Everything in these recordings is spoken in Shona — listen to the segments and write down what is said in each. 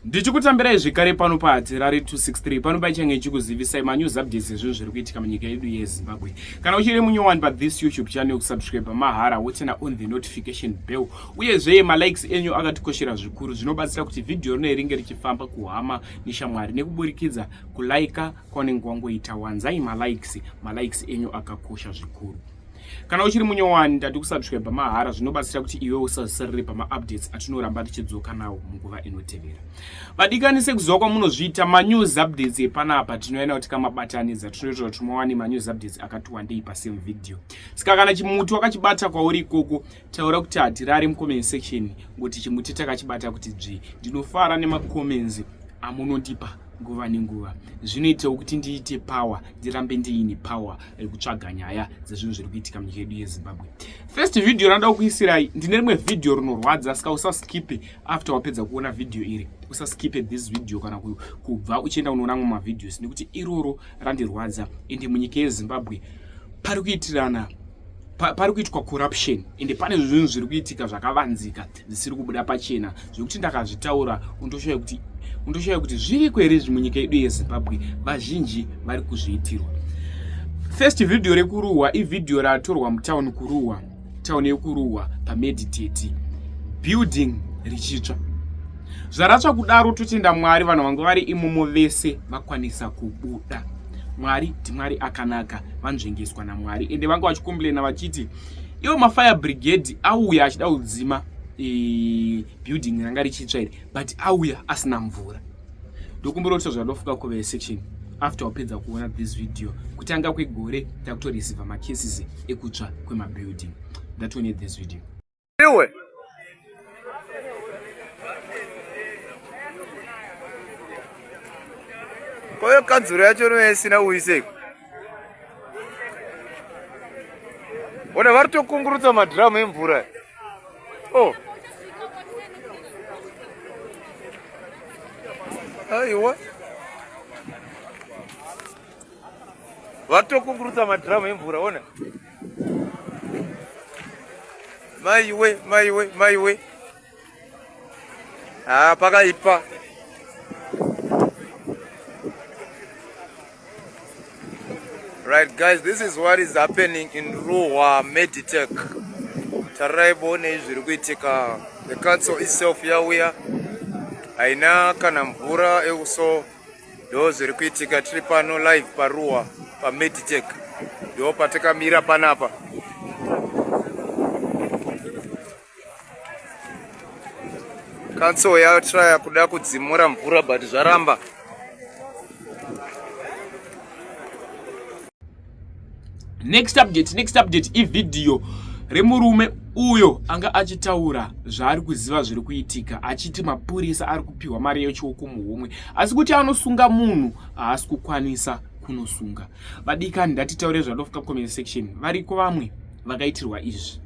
ndichikutambirai zvekare pano pahatirari 263 pano paichange ichikuzivisai manews updates ezvinhu zviri kuitika munyika yedu yezimbabwe kana uchiri munyowani pathis youtube channel kusubscribe mahara wotena on the notification bell uyezve malikes enyu akatikoshera zvikuru zvinobatsira kuti vhidhiyo rino ringe richifamba kuhama neshamwari nekuburikidza kulaika kwaunenge wangoita wanzai malikes malikes enyu akakosha zvikuru kana uchiri munyowani ndati kusubscribe mahara zvinobatsira kuti iwe usazisarire pamaupdates atinoramba tichidzoka nawo munguva inotevera vadikani sekuziva kwamunozviita manews updates epanapa tinoenda kuti kamabatanidza tinoita kuti muwane manews updates akati wandei pasame video saka kana chimuti wakachibata kwauri ikoko taura kuti hatirari mucomment section ngokuti chimuti takachibata kuti dzvi ndinofara nemacomments amunondipa nguva nenguva zvinoitawo kuti ndiite power ndirambe ndiine power yekutsvaga nyaya dzezvinhu zviri kuitika munyika yedu yezimbabwe first video ranoda kukuisirai ndine rimwe video rinorwadza saka usaskipe after wapedza kuona video iri usaskipe this video kana kubva uchienda unoona amwe mavideos nekuti iroro randirwadza ende munyika yezimbabwe pari kuitirana pa, pari kuitwa corruption ende pane zvinhu zviri kuitika zvakavanzika zvisiri kubuda pachena zvekuti ndakazvitaura undoshaya kuti undoshaya kuti zviriko here izvi munyika yedu yezimbabwe vazhinji vari kuzviitirwa first vhidhiyo rekuruhwa ivhidhiyo ratorwa mutown kuruhwa town yekuruhwa pameditate building richitsva zvaratsva kudaro totenda mwari vanhu vanga vari imomo vese vakwanisa kubuda Mwari ndiMwari akanaka, vanzvengeswa naMwari ende vanga vachikomplaina vachiti iwo mafire brigade auya achida kudzima e, building ranga richitsva iri but auya asina mvura. Ndokumbira kuti zvadofuka kuve section after wapedza kuona this video kutanga kwegore takutorisiva macases ekutsva kwemabuilding. That's when this video. Iwe. Kwa hiyo kanzuru yacho inoya isina uiseko. Ona vari tokungurutsa madhiramu emvura. Oh. Aiwa. Vari tokungurutsa madhiramu emvura, ona. Maiwe, maiwe, maiwe. Ah, pakaipa. Right guys, this is what is happening in Ruwa Meditech. Tarai bone zviri kuitika. The council itself yauya haina kana mvura ekuso ndo zviri kuitika tiri pano live paruwa pameditech ndo patakamira panapa kanso yatraya kuda kudzimura mvura but zvaramba next update next update ivhidhiyo remurume uyo anga achitaura zvaari kuziva zviri kuitika achiti mapurisa ari kupiwa mari yechioko muhomwe asi kuti anosunga munhu haasi kukwanisa kunosunga vadikani ndatitaure zvadofuka comment section variko vamwe vakaitirwa izvi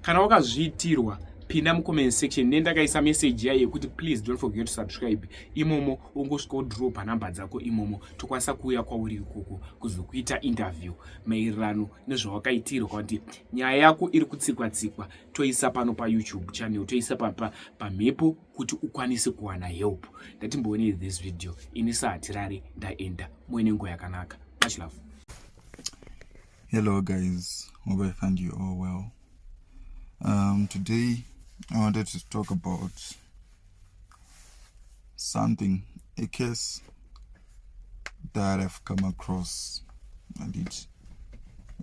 kana wakazviitirwa pinda mucomment section ne ndakaisa message yaye yekuti please don't forget to subscribe imomo ungosvika udropa number dzako imomo tokwanisa kuuya kwauri ikoko kuzokuita interview maererano nezvawakaitirwa kuti nyaya yako iri kutsikwa tsikwa toisa pano payoutube channel toisa pamhepo pa kuti ukwanise kuwana help ndatimboonei this video ini sahatirari ndaenda muine nguva yakanaka much love hello guys hope i find you all well um, today i wanted to talk about something a case that i've come across and it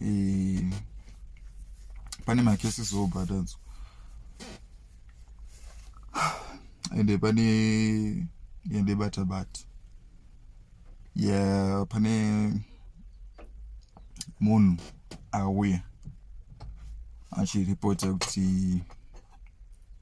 eh, pane macases obhatadzo ende pane ende bata bata yeah pane munhu auya achiripota kuti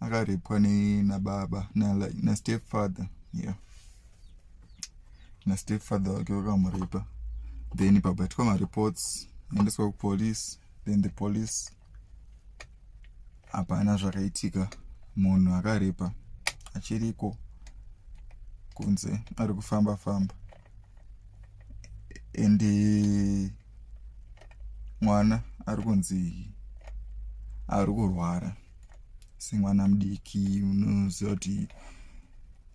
akarepwa nababa nastep father yeah nastep father wake vakamurepa then pabatwa mareports aendeswa kupolice then the police hapana zvakaitika munhu akarepa achiriko kunze ari kufamba famba and mwana ari kunzi ari kurwara semwana mudiki unoziva kuti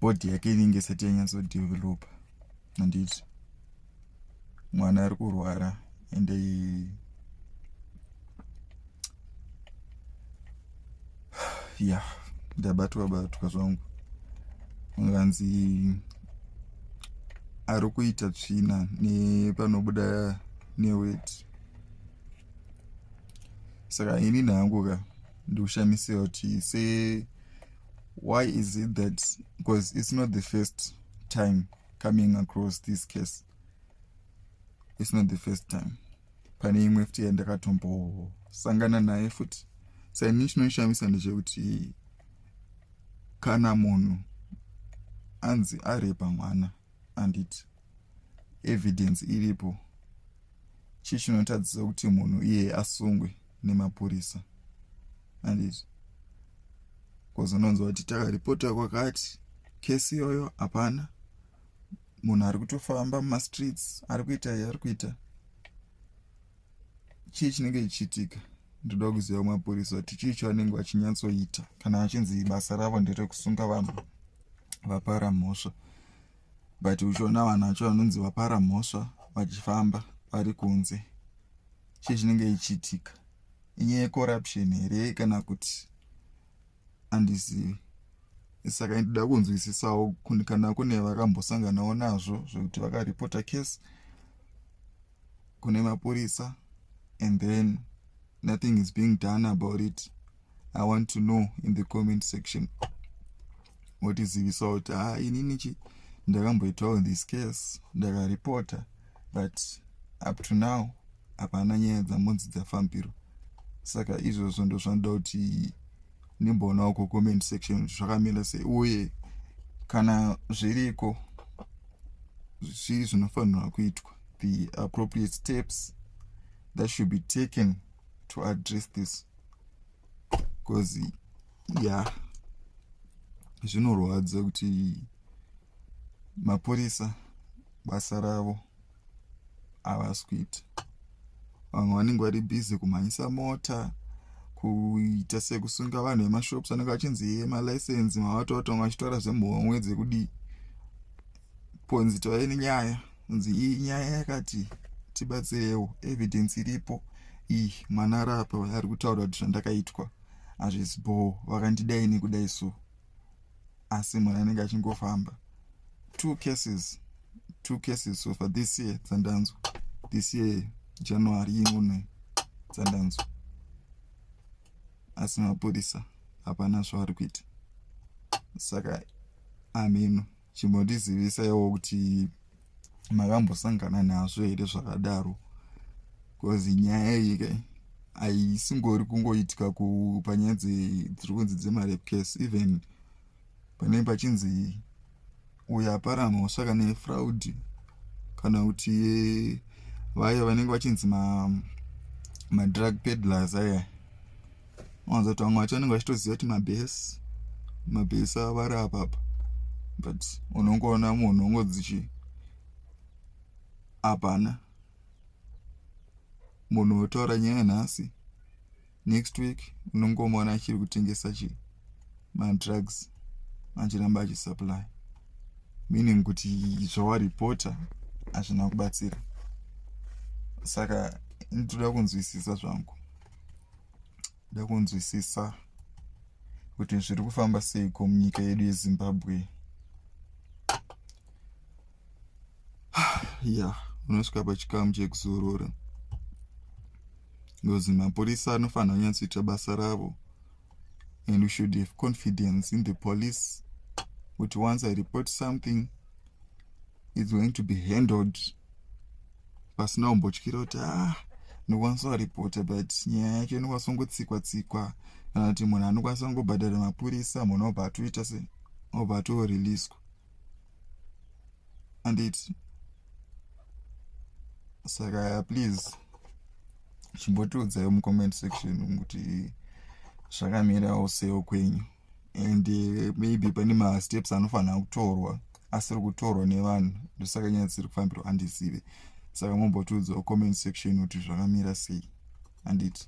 bhodhi yake inenge isati yanyatsodevelopa handiti mwana ari kurwara ende ya ndabatwa batwa zvangu nganzi ari kuita tsvina nepanobuda neweti saka ini nangu ka ndikushamisiwa kuti se why is it that because it's not the first time coming across this case its not the first time pane imwe futi yandakatombosangana naye futi saini chinoishamisa ndechekuti kana munhu anzi arepa mwana anditi evidence iripo chii chinotadzisa kuti munhu iye asungwe nemapurisa anditi bcause unonzwa kuti takaripota kwakati kesi iyoyo hapana munhu ari kutofamba mumastreets ari kuita ari kuita chii chinenge chichiitika ndoda kuziva mapurisa kuti chii chaanenge vachinyatsoita kana vachinzi basa ravo nderekusunga vanhu vapara mhosva but uchiona vanhu vacho vanonzi vapara mhosva vachifamba vari kunze chii chinenge chichiitika inyaya yecorruption here kana kuti handizivi saka ndida kunzwisisawo kana kune vakambosanganawo nazvo zvekuti vakaripota case kune mapurisa and then nothing is being done about it i want to know in the comment section votizivisawo kuti ha ah, inini chi ndakamboitawo this case ndakaripota but up to now hapana nyaya dzamonzi dzafambirwa saka izvozvo ndozvanoda kuti nimboonawo kucomment section zvakamira sei uye kana zviriko zvii zvinofanirwa kuitwa the appropriate steps that should be taken to address this because ya yeah, zvinorwadza kuti mapurisa basa ravo havasi kuita vamwe vanenge vari busy kumhanyisa mota kuita sekusunga vanhu vemashops anenge achinzi ye malicense mavatovatanga vachitaura zvemhomwe dzekudii ponzi tove nenyaya kunzi iyi nyaya yakati tibatsirewo evidence iripo iyi mwana arapa ari kutaura kuti zvandakaitwa hazvisi bhoo vakandidai nekudai so asi mwana anenge achingofamba two cases two cases so far this year dzandanzwa this year january imune dzandanzwa asi mapurisa hapana zvavari kuita saka amheno chimbotizivisaiwo kuti makambosangana nazvo here zvakadaro bcause nyaya iyi kai haisingori kungoitika panyaya dziri kunzi dzemarape case even panei pachinzi uyo apara mhosva kana yefraud kana kuti vaye vanenge vachinzi madrug pedlers aya wanza kuti vamwe vacho vanenge vachitoziva kuti mabhesi mabhesi ava vari apapa but unongoona munhu ongo dzichi hapana munhu wotaura nyaya nhasi next week unongomuona achiri kutengesa chi madrugs achiramba achisupply meaning kuti zvawaripota hazvina kubatsira saka nditoda kunzwisisa zvangu kuda kunzwisisa kuti zviri kufamba seiko munyika yedu yezimbabwe ya unosvika pachikamu chekuzorora because mapurisa anofanira kunyatsoita basa ravo and we should have confidence in the police kuti once i report something it's going to be handled pasina umbotyira kuti ah ndokwanisa kuripota but nyaya yacho inokwanisa kungotsikwa tsikwa kana kuti munhu anokwanisa kungobhadhara mapurisa munhu obva atoita se obva atoreleaswa anditi saka please chimbotiudzai mucomment section kuti zvakamirawo seo kwenyu and eh, maybe pane masteps anofanira kutorwa asiri kutorwa nevanhu ndosaka nyaya dzisiri kufambirwa andizive saka mombotiudzawo comment section kuti zvakamira sei anditi